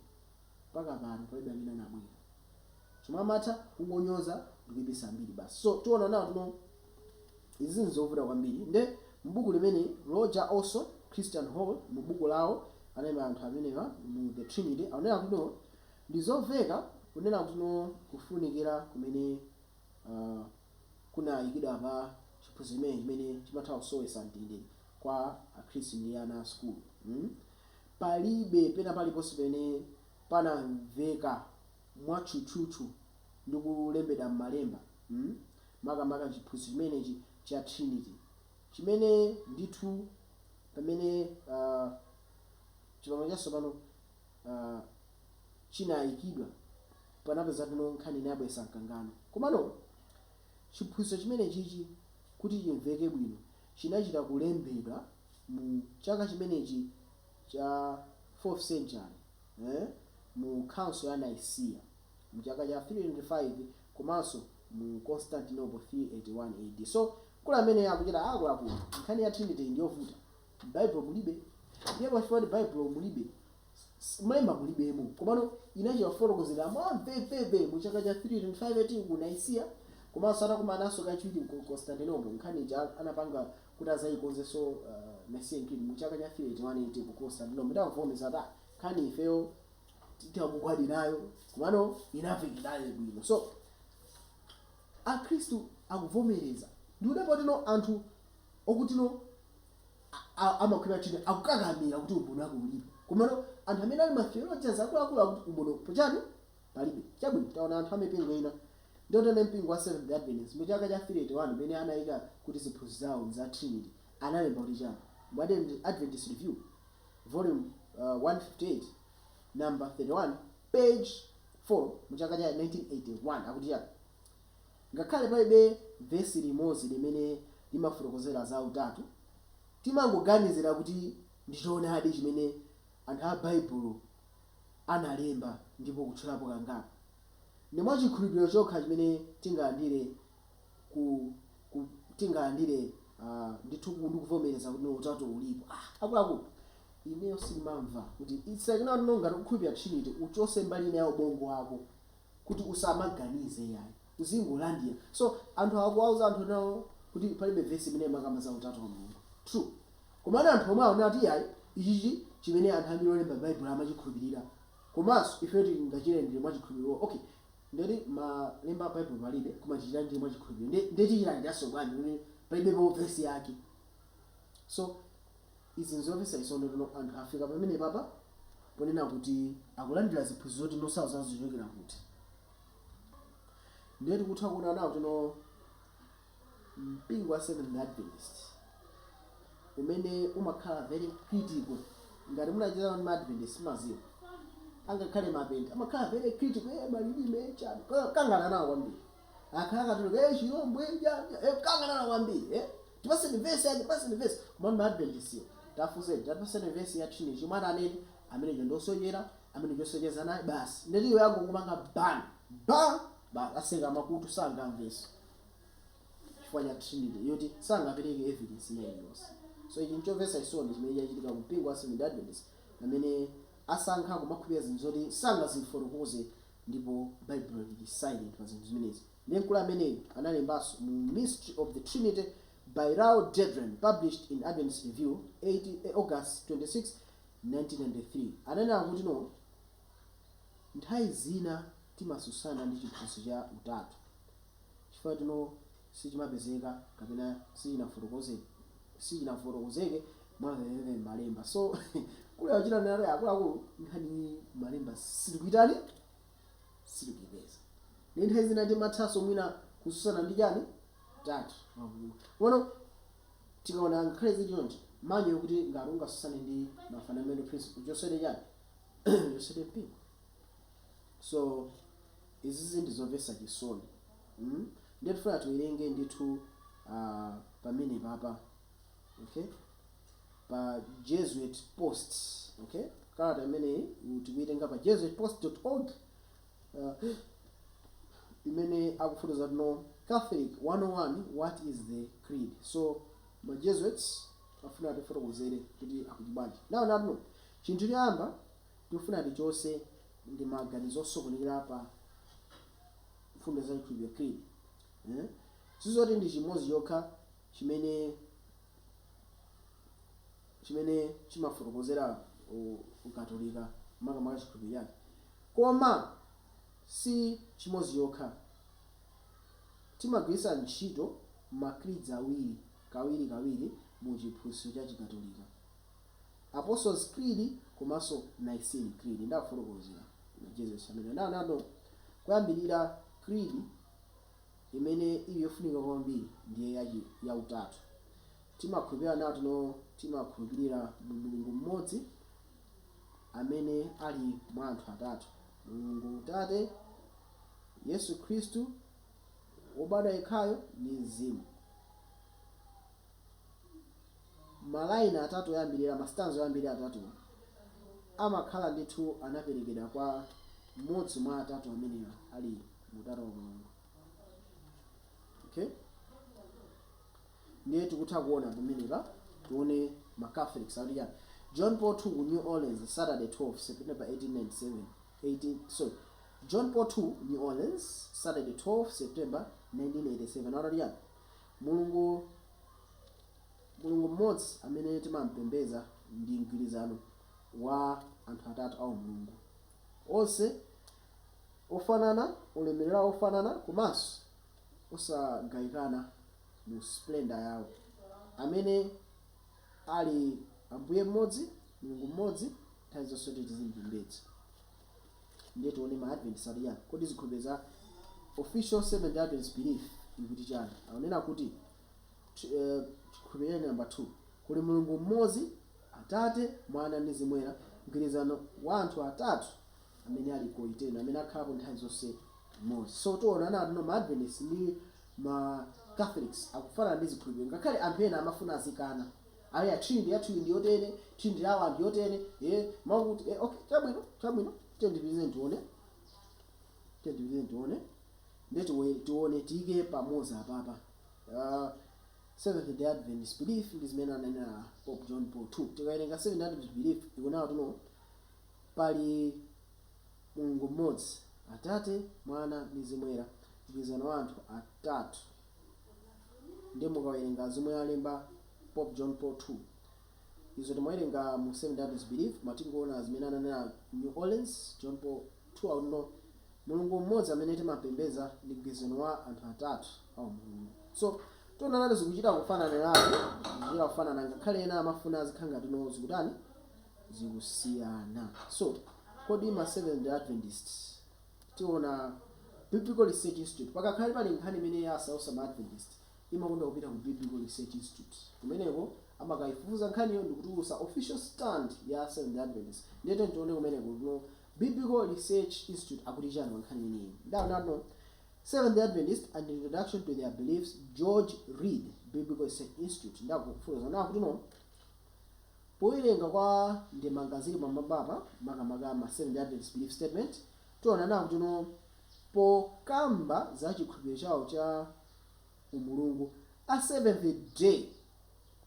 mpaka pano palibe amene anabwera chomwe amatha kungonyoza ndikuipisa mbiri basi so tikuona kuti no izi zinthu zovuta kwambiri nde mbuku limene roger olson christian hall mu buku lawo anaima anthu amenewa mu the trinity akunena kuti no ndizoveka kunena kuti no kufunikira kumene uh, kunayikidwa pa chiphunzitso chimenechi chimene chimatha kusowetsa mtendere kwa akhristu ndi ana a sukulu. Palibe pena paliponse pene panamveka mwatchutchutchu ndi kulembedwa m'malemba makamaka m'chiphunzitso chimenechi cha Trinity chimene ndithu pamene chipangano chatsopano chinayikidwa, panapeza kuti no nkhani inayabwesa mkangano. Komano, chiphunzitso chimenechichi kuti chimveke bwino chinachita kulembedwa mu chaka chimenechi cha fourth century eh mu Council ya Nicaea mu chaka cha 325 komanso mu Constantinople 381 AD. So, mkulu ameneyo akuchita akuluakulu, nkhani ya Trinity iyi ndiyovuta, m'Baibulo mulibe, ndiye pachifukwa choti Baibulo mulibe, M'Malemba mulibemo. Komano inachita kufotokozedwa mwamvemvemve mu chaka cha 325 A.D. ku Nicaea komanso atakumananso kachiwiri ku Constantinople, nkhani ija anapanga kuti adzaikonzenso Nicene Creed mu chaka cha 381 A.D. ku Constantinople itangobvomereza kuti ah, nkhaniyi ifeyo titha kugwirizana nayo komano inamvekabe bwino. So, Akhristu akubvomereza ndikudabwa kuti no anthu okuti no. amakhulupirira Trinity akukakamira kuti umboni wake ulipo. Komano anthu amene ali ma theologians akuluakulu akuti umbonipo chani? Palibe. Chabwino, taona anthu a mipingo ina. Ndiye tione mpingo wa Seventh Day Adventist mu chaka cha 381 pamene anaika kuti ziphunzitso zawo za Trinity analemba kuti chani? Mu ujeni Adventist Review volume 158 number 31 page 4 mu chaka cha 1981 akuti chani? Ngakhale palibe vesi limodzi limene limafotokozera za Utatu, timangoganizira kuti ndi choonadi chimene anthu a Baibulo analemba ndipo kutchulapo kangapo. Ndi mwa chikhulupiriro chokha chimene tingalandire ku, ku, tingalandire a, ndithu ku, ndi kuvomereza kuti no Utatu ulipo. Ah! Akuluakulu, ineyo sindimamva kuti it's like, you know, I don't know, ngati ukukhulupirira Trinity uchotse mbali ina ya ubongo wako. kuti usamaganize iyayi uzingolandira so anthu awa akuwauza anthu enawo kuti palibe vesi imene imakamba za utatu wa Mulungu true komano anthu omwe akunena kuti iyayi ichichi chimene anthu ambiri olemba baibulo amachikhulupirira komanso ifeyo tingachilandire mwa chikhulupiriro iwo okay ndeti malemba a baibulo palibe koma tichilandire mwa chikhulupiriro nde nde tichilandiranso bwanji pamene palibepo vesi yake so Izi nzomvetsa chisoni kuti no anthu afika pamenepapa ponena kuti akulandira ziphunzitso zoti no sakudziwa zikuchokera kuti ndiye tikutha kuona nawo kuti no mpingo wa Seventh Day Adventist umene umakhala very critical ngati munachezana ndi ma Adventist mumadziwa angakhale mapente amakhala very critical eh malilime chani kangana nawo kwambiri Akhala akatuluka eh chilombo chani eh kukangana nawo kwambiri eh tipaseni verse yake tipaseni verse komano ma adventist yo tawafunseni tipaseni verse ya trinity chomwe atanene ameneyo ndosochera ameneyo osacheza naye basi ndeti iwe angokupanga ban ba basi atseka makutu sangamvenso chifukwa cha trinity yoti sangapereke evidence ina iliyonse so ichi nchomvetsa chisoni chimene chachitika ku mpingo wa seventh adventist pamene asankha kumakhulupirira zinthu zoti sangazifotokoze Ndipo Baibulo liri silent pa zinthu zimenezi. Ndiye mkulu ameneyu analembanso mu Mystery of the Trinity by Raoul Dederen, published in Adventist Review August 26, 1993. Ananena kutino nthawi zina timasusana ndi chiphunzitso cha Utatu chifukwa tino sichimapezeka kapena sichinafotokoze. sichinafotokozeke mwamvemvemve m'malemba. So, akuchita narrate akuluakulu nkhani iyi m'malemba sitikuitani sitikuipeza. Ndi nthawi zina timathanso mwina kususana ndi chani utatu wa Mulungu. Komano tikaona ngakhale zili chonchi amanena kuti ngati ungasusane ndi ma fundamental principle uchosere chani uchosere mpingo. So, izizi ndi zomvetsa chisoni. mm ndiye tifuna tiwerenge ndithu a pamenepa pa okay pa jesuit post okay kalata imeneyi u- tikuitenga pa jesuitpost.org uh, imene akufotokoza kuti no catholic 101 what is the creed so ma jesuits afuna atifotokozere kuti akuti bwanji now to know chinthu choyamba tikufuna tichose ndi maganizo osokonekera pa mfundo za chikhulupiriro Creed. Sizoti ndi chimodzi chokha chimene chimene chimafotokozera ukatolika makamaka chikhulupiriro chake koma si chimodzi chokha. Timagwiritsa ntchito ma creeds awiri kawiri kawiri mu chiphunzitso cha chikatolika. Apostles Creed komanso Nicene Creed. Nde akufotokozera ma Jesuits amenewa. Now to know, koyambirira creed imene ili yofunika kwambiri ndiye ya, ya utatu. Timakhulupirira now to know, timakhulupirira mu Mulungu mmodzi amene ali mwa anthu atatu. Mulungu Atate, Yesu Khristu wobadwa yekhayo ndi mzimu. Malaini atatu oyambirira, masitanza oyambirira atatuwo, amakhala ndithu anaperekedwa kwa mmodzi mwa atatu amene ali mu Utatu wa Mulungu. Ok? Ndiye tikutha kuona pamenepa, tione ma Catholics akuti chani. John Paul 2 ku New Orleans, Saturday 12 September 1897, 18, sorry, John Paul 2, New Orleans, Saturday 12 September 1987, akuti chani? Mulungu, Mulungu mmodzi amene timampembedza ndi mgwirizano wa Anthu atatu aumulungu, onse ofanana, ulemerero wofanana komanso osagawikana mu splendor yao, amene ali Ambuye mmodzi, Mulungu mmodzi, nthawi zonse kuti tizimpembedza. Ndiye tione ma Adventist ati chani. Kodi zikhulupiriro za Official Seventh Day Adventist Belief ikuti chani? Akunena kuti ch eh chikhulupiriro chake number 2 Kuli Mulungu mmodzi, Atate, Mwana ndi Mzimu Woyera, mgwirizano wa anthu atatu amene ali coeternal, amene akhalapo nthawi zonse mmodzi. So tiona nati no ma Adventist ndi ma Catholics akufanana ndi zikhulupiriro ngakhale anthu ena amafuna azikana. Ayi, a Trinity yathuyi ndi yotere, Trinity yawo ndi yotere, ee, mwakuti, ee, okay, chabwino, chabwino, tiyeni tipitirize tione, tiyeni tipitirize tione, nde tione, tiike pamodzi apapa, uh, Seventh Day Adventist Belief ndi zimene ananena Pope John Paul 2. Tikawerenga Seventh Day Adventist Belief ikunena kuti no, pali Mulungu mmodzi, Atate, Mwana ndi Mzimu Woyera, mgwirizano wa anthu atatu. Ndiye mukawerenga zomwe alemba Pope John Paul 2, izo timawerenga mu Seventh Day Adventist Belief, koma tingoona zimene ananena New Orleans, John Paul 2 akuti no Mulungu mmodzi amene timapembedza ndi mgwirizano wa anthu atatu a umulungu. So, tiona nati zikuchita kufananiratu, zikuchita kufanana ngakhale ena amafuna zikhala ngati no zikutani zikusiyana. So, kodi ma Seventh Day Adventists Tiona Biblical Research Institute. Pakakhale pali nkhani imene yasausa ma Adventist, imakonda kupita ku Biblical Research Institute. Kumeneko amakaifufuza nkhaniyo ndikutulusa official stand ya Seventh Day Adventist. Ndiye tiyeni tione kumeneko kuti no Biblical Research Institute akuti chani pa nkhani imeneyi. Ndau nat no Seventh Day Adventist and Introduction to Their Beliefs George Reid Biblical Research Institute. Ndaku kufufuza nakuti no. Powerenga kwa ndemanga ziri pamwambapa, makamaka ma Seventh Day Adventist Belief Statement, tionano kuti no pokamba za chikhulupiriro chawo cha umulungu, a Seventh Day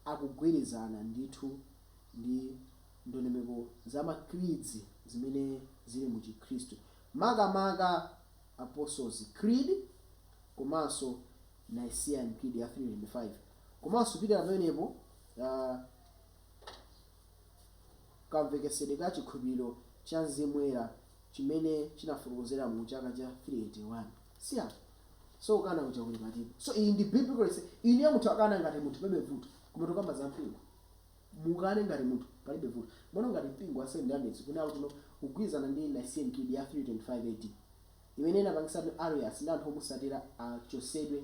akugwirizana ndithu ndi ndondomeko za ma creeds zimene ziri mu chikhristu, makamaka Apostles Creed komanso Nicene Creed ya 325 komanso kupitira pamenepo. kamvekesedwe ka chikhulupiriro cha Mzimu Woyera chimene chinafotokozeredwa mu chaka cha 381 C.R. So kukana kuja kuli patiko? So iyi ndi biblical research. Inuyo mutha kukana ngati munthu palibe vuto. Koma tikukamba za mpingo. Mukane ngati munthu palibe vuto. Mwaona ngati mpingo wa Seventh Day Adventist ukunena kuti no kugwirizana ndi Nicene Creed ya 325 AD imene inapangitsa kuti Arius ndi anthu omusatira achosedwe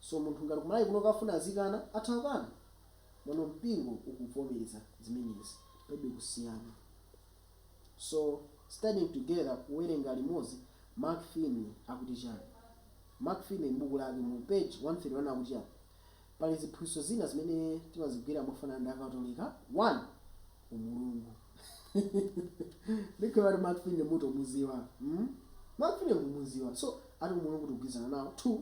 So munthu ngati kumalawi kuno akafuna azikana atha kukana mwano mpingo ukuvomereza zimenezi palibe kusiyana so studying together kuwerenga limodzi mark finley akuti chani mark finley m'buku lake mu page 131 akuti chani pali ziphunzitso zina zimene timazigwira mofanana ndi akatolika 1 umulungu ndikhulupira kuti mark finley mukumuziwa mm? mark finley mukumuziwa so ati umulungu tikugwirizana nawo 2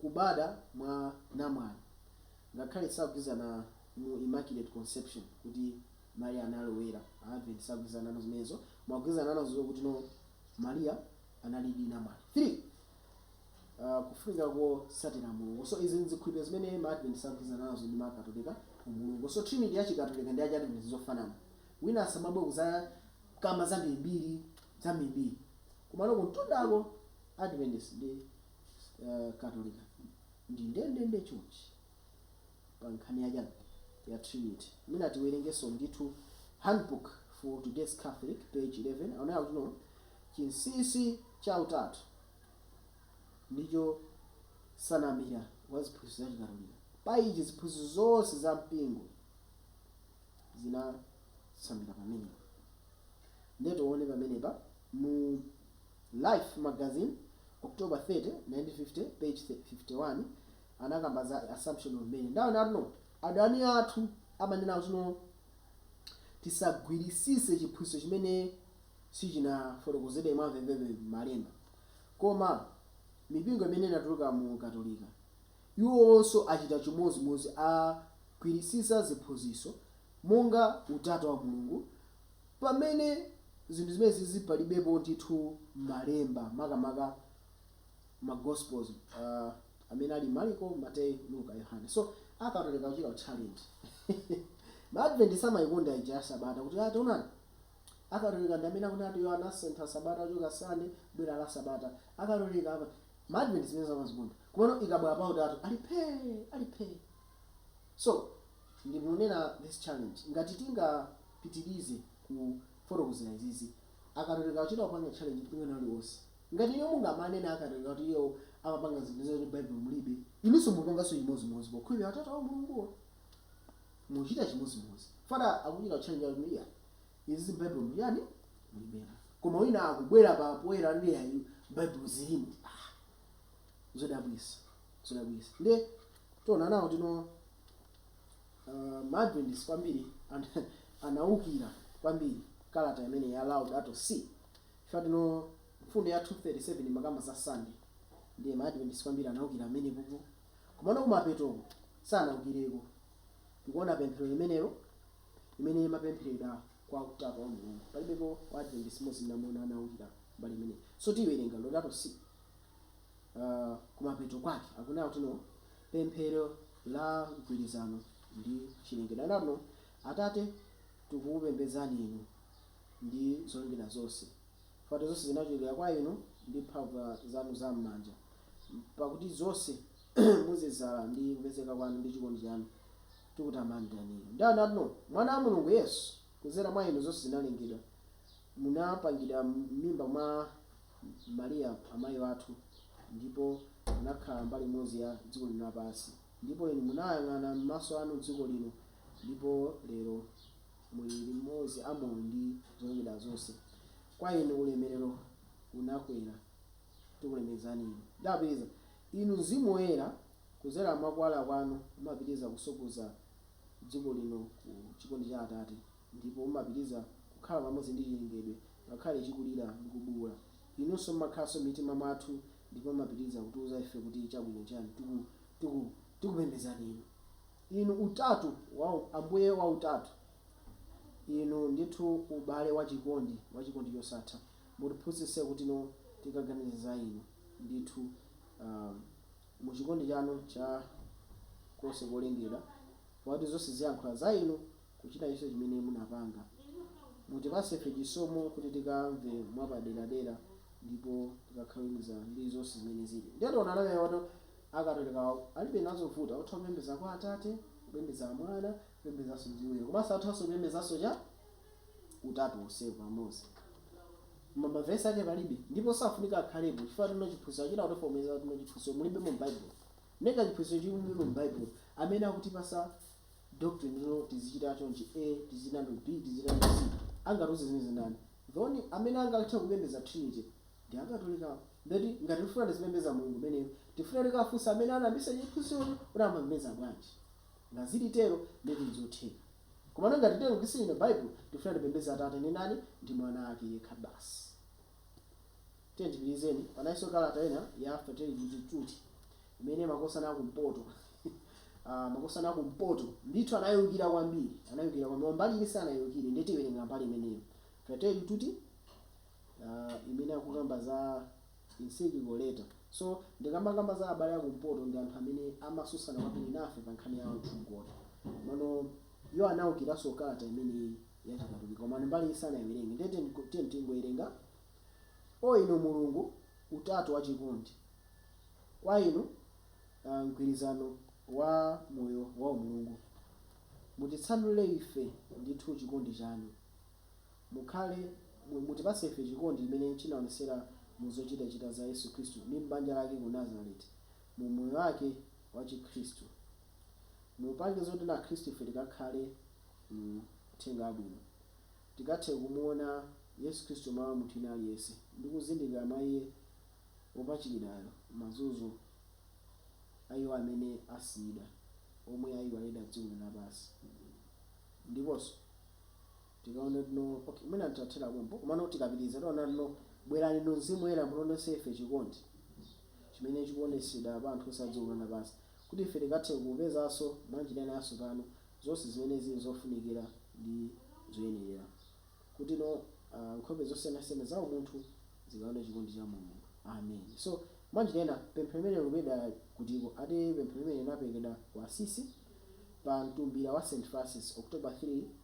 kubada mwa namwali, ngakhale sagwirizana mu Immaculate Conception kuti Maria anali oyera. A Advent sagwirizana nazo zimenezo, koma agwirizana nazo kuti no Maria analidi namwali. 3, kufunika kosatira mulungu. So izi nzikhulupiriro zimene ma Advent agwirizana nazo ndi ma Katolika, umulungu. So Trinity ya chi Katolika ndi ya chi Advent nzofanana. Wina asamabwere kuzakamba zambirimbiri. zambirimbiri. Komano kumtundako, Adventist ndi Katolika ndi ndendende chonchi pa nkhani ya chani? ya Trinity. Mwina tiwerengenso ndithu Handbook for Today's Catholic page 11 akunena kuti no. Chinsinsi cha Utatu ndicho nsanamira ya ziphunzitso za Chikatolika. Pa ichi ziphunzitso zonse za mpingo zina. tsamira pamenepa nde tione pamenepa mu life magazine October 30 1950 page 51 anakamba za assumption of mary nde akunena kuti no adani athu amanena kuti no tisagwirisise chiphunzitso chimene sichinafotokozedwe mwa mvemvemve m'malemba koma mipingo imene inatuluka mu katolika iwonso achita chimodzimodzi, agwiritsitsa ziphunzitso monga Utatu wa Mulungu, pamene zinthu zimenezizi palibepo ndithu mmalemba, makamaka ma Gospels amene ali Marko, Mateyu, Luka, Yohane. So, a Katolika akuchita ku challenge ma Adventist amayikonda ija ya Sabata kuti ataonani a Katolika ndi amene akunena kuti iwo anasintha Sabata kuchoka Sunday kubwera la Sabata, a Katolika. Ma Advent zimenezo amazikonda komano ikabwela pautatu ali phee ali phee so ndikunena this challenge ngati tingapitilize kufotokozela izizi akatolika akuchita kupanga challenge mpingo wina uliwonse ngati inuyo mungamanene akatolika kuti iwo amapanga zinthu zoti m'baibulo mulibe inunso mupanganso chimozimozi pokhulupilira utatu wa umulunguwo muchita chimozimozi fada akuchita challenge akuti iya Izi m'Baibulomu, chiyani? Mulibemo. Koma wina akubwera poyera, ndi, Ayi, m'Baibulo zirimo. Ah! Zodabwitsa! Zodabwitsa! Nde, tiona nawo tino, uh, ma Adventist kwambiri an, anawukira kwambiri kalata imeneyi ya Laudato Si. Chifukwa, tino, mfundo ya 237 imakamba za Sande. Ndiye ma Adventist kwambiri anawukira pamenepopo. Komano kumapetoko, sanawukireko. Tikuona pemphero limenelo, imene imapemphereredwa kwa Utatu wa Mulungu. Palibepo wa Adventist mmodzi amene ndamuona anawukira mbali imeneyi. So tiwerenga Laudato Si, uh, kumapeto kwake akunena kuti no pemphero la mgwirizano ndi chilengedwe. Anati no, Atate, tikukupembedzani inu ndi zolengedwa zonse, fati zonse zinachokera kwa inu ndi mphamvu zanu za m'manja, pakuti zonse Muzidzala ndi kupezeka kwanu ndi chikondi chanu tikutamandani inu. Ndi anatno, Mwana wa Mulungu, Yesu, kudzera mwa inu zonse zinalengedwa, munapangidwa m'mimba mwa Maria amayi athu, ndipo munakhala mbali imodzi ya dziko lino lapansi, ndipo inu munayang'ana m'maso anu dziko lino, ndipo lero muli limodzi amoyo ndi zolengedwa zonse. Kwa inu ulemerero unakwera. tikulemekzani Inu. Ndapitiriza, Inu Mzimu Woyera, kudzera mwa Kuwala Kwanu, mumapitiriza kusogoza dziko lino ku chikondi cha Atate, ndipo mumapitiriza kukhala pamodzi ndi chilengedwe, ngakhale chikulira ndi kubuula. Inunso mumakhalanso mmitima mwathu ndipo mumapitiriza kutiuza ife kuti chabwino nchiyani. Tiku, tiku, tikupembedzani Inu. Inu, utatu wa, Ambuye wa utatu, Inu ndithu ubale wa chikondi, wa chikondi chosatha. mutiphunzitse kutino tikaganiza za inu ndithu um, mu chikondi chanu cha konse kolengedwa pakuti zonse ziyankhula za inu kuchita icho chimene munapanga mutipase ife chisomo kuti tikamve mwapaderadera ndipo tikakhaloniza ndi zonse zimene zili ndiye tiona anameneyotu akatolikawo alibe nazo vuta atha kupembeza kwa atate kupembeza amwana kupembezanso mzimu komanso athanso kupembezanso cha utatu onsewo pamodzi koma mavesi ake palibe ndipo safunika akhalepo chifukwa tino chiphunzitso achita kutifotokozera tino chiphunzitso mulibemo m'baibulo neka chiphunzitso chilibemo m'baibulo amene akutipasa doctrine tino tizichita chonchi a tizichita b tizichita c angatiuze zimenezi ndani thon amene angathe kupembeza trinity ndi akatolikawo ndeti ngati tifuna tizipembeza mulungu meneyo tifuna tikafunsa amene anayambisa chiphunzitsocho kuti amapembeza bwanji ngazili tero ndeti nzotheka Komano ngati titero kuti tisiye Baibulo, tikufuna tipembedze Atate ndi ndani? Ndi Mwana Ake yekha basi. Tiyeni tipitirize, panalinso kalata ina ya Fratelli Tutti, Tutti, imene makosana a kumpoto, ah, makosana a kumpoto, ndithu anaiukira kwambiri, anaiukira kwambiri, koma mbali ina sanaiukire, ndiye tiwerenga mbali imeneyo, Fratelli Tutti, ah, imene akukamba za. Encyclical letter. So ndikamakamba za abale a kumpoto ndi anthu amene amatsutsana kwambiri nafe pa nkhani ya utsogoleri. Komano iwo anaukiranso kalata imeneyi ya chikatolika komano mbaliyi sanaiwerenge ndiye tiyeni tingoiwerenga O inu Mulungu, Utatu wa chikondi, kwa inu mgwirizano wa moyo wa umulungu, mutitsanulire ife ndithu chikondi chanu. Mukhale, mu, mutipatse ife chikondi chimene chinaonetsera mu zochitachita za Yesu Khristu ndi m'banja lake ku Nazareti, mu moyo wake wa Chikhristu. Mupange zoti Akhristu ife tikakhale mu Uthenga Wabwino, tikathe kumuona Yesu Khristu mwa munthu wina aliyense, ndi kuzindikira mwa Iye wopachikidwayo mazunzo a iwo amene asiyidwa, omwe ayiwalidwa dziko lino lapansi, ndiponso. Tikaona kuti ok mwina titathera pompo komano tikapitiliza tiona kuti bwerani inu mzimu woyera mutionetse ife chikondi chimene chikuonetsedwa pa anthu onse a dziko lino lapansi kuti ife tikathe kupezanso mwanjira ina yatsopano zonse zimene zili zofunikira ndi zoyenerera kutino nkhope zosiyanasiyana za umunthu zikaone chikondi cha Mulungu Amen so mwanjira ina pemphero limeneli likupezeka kutiko ati pemphero limeneli linaperekedwa ku Assisi pa mtumbira wa St Francis October 3,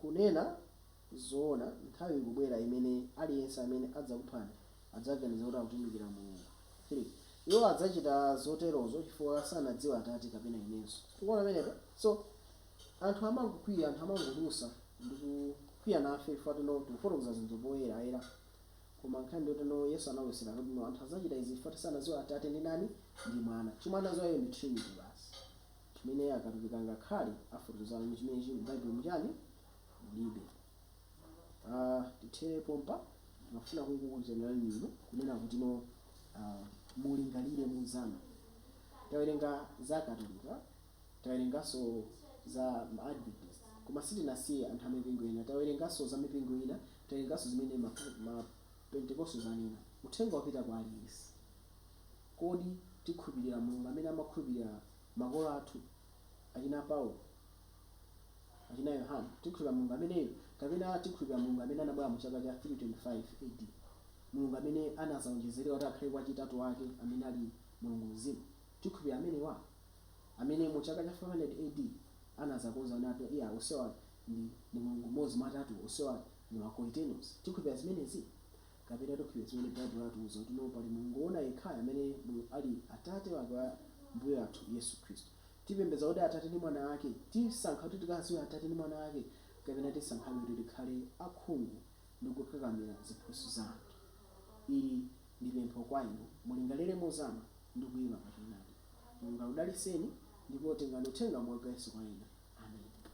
Kunena zoona, nthawi ikubwera imene aliyense amene adzakuphani adzaganiza kuti akutumikira Mulungu, 3 iwo adzachita zoterozo chifukwa sanadziwe Atate kapena inenso. Tikuona pamenepa? So, anthu amangokwiya, anthu amangolusa ndi kukwiya nafe chifukwa kuti no tikufotokoza zinthu poyerayera. Koma nkhani ndi yoti no Yesu analosera kuti no anthu adzachita izi chifukwa kuti sanadziwe Atate ndi ndani, ndi Mwana. Chomwe anadziwa iwo ndi Trinity basi. Chimene Akatolika angakhale afotokoza kutino chimene chili mu Baibulo mu chani? Mulibe. A, tithere pompa. Ndimafuna kungokuitanirani inu, kunena kutino, a, mulingalire mozama. Tawerenga za Akatolika, tawerenganso za ma Adventist, koma sitinasiye anthu a mipingo ina. Tawerenganso za mipingo ina, tawerenganso zimene ma, ma Pentecostals anena. Uthengawu wapita kwa aliyense. Kodi tikhulupirira Mulungu amene amakhulupirira makolo athu, achina Paulo, achina Yohane? Tikhulupirira Mulungu ameneyu? Kapena tikhulupirira Mulungu amene anabwera mu chaka cha 325 A.D. Mulungu amene anadzawonjezeredwa kuti akhale wachitatu wake amene ali Mulungu Mzimu? Tikhulupirira amenewa? Amene mu chaka cha 500 A.D. anadzakonza kunena kuti atatu onsewa ndi ndi Mulungu m'modzi mwa atatuwo, onsewa ndi ma Coeternos? Tikhulupirira zimenezi? kapena tikhulupirira zimene Baibulo latiuza kuti no pali Mulungu woona yekhayo amene ali Atate wake wa Mbuye wathu Yesu Khristu. Tipembedza kodi Atate ndi Mwana wake? Tisankha kuti tikadziwe Atate ndi Mwana wake kapena tisankhabe kuti tikhale akhungu ndi kukakamira ziphunzitso za anthu? Ili ndi pempho kwa inu. Mulingalire mozama ndi kuima pa choonadi. Mulungu akudalitseni ndipo tengani uthenga wa Yesu kwa ena. Ameni.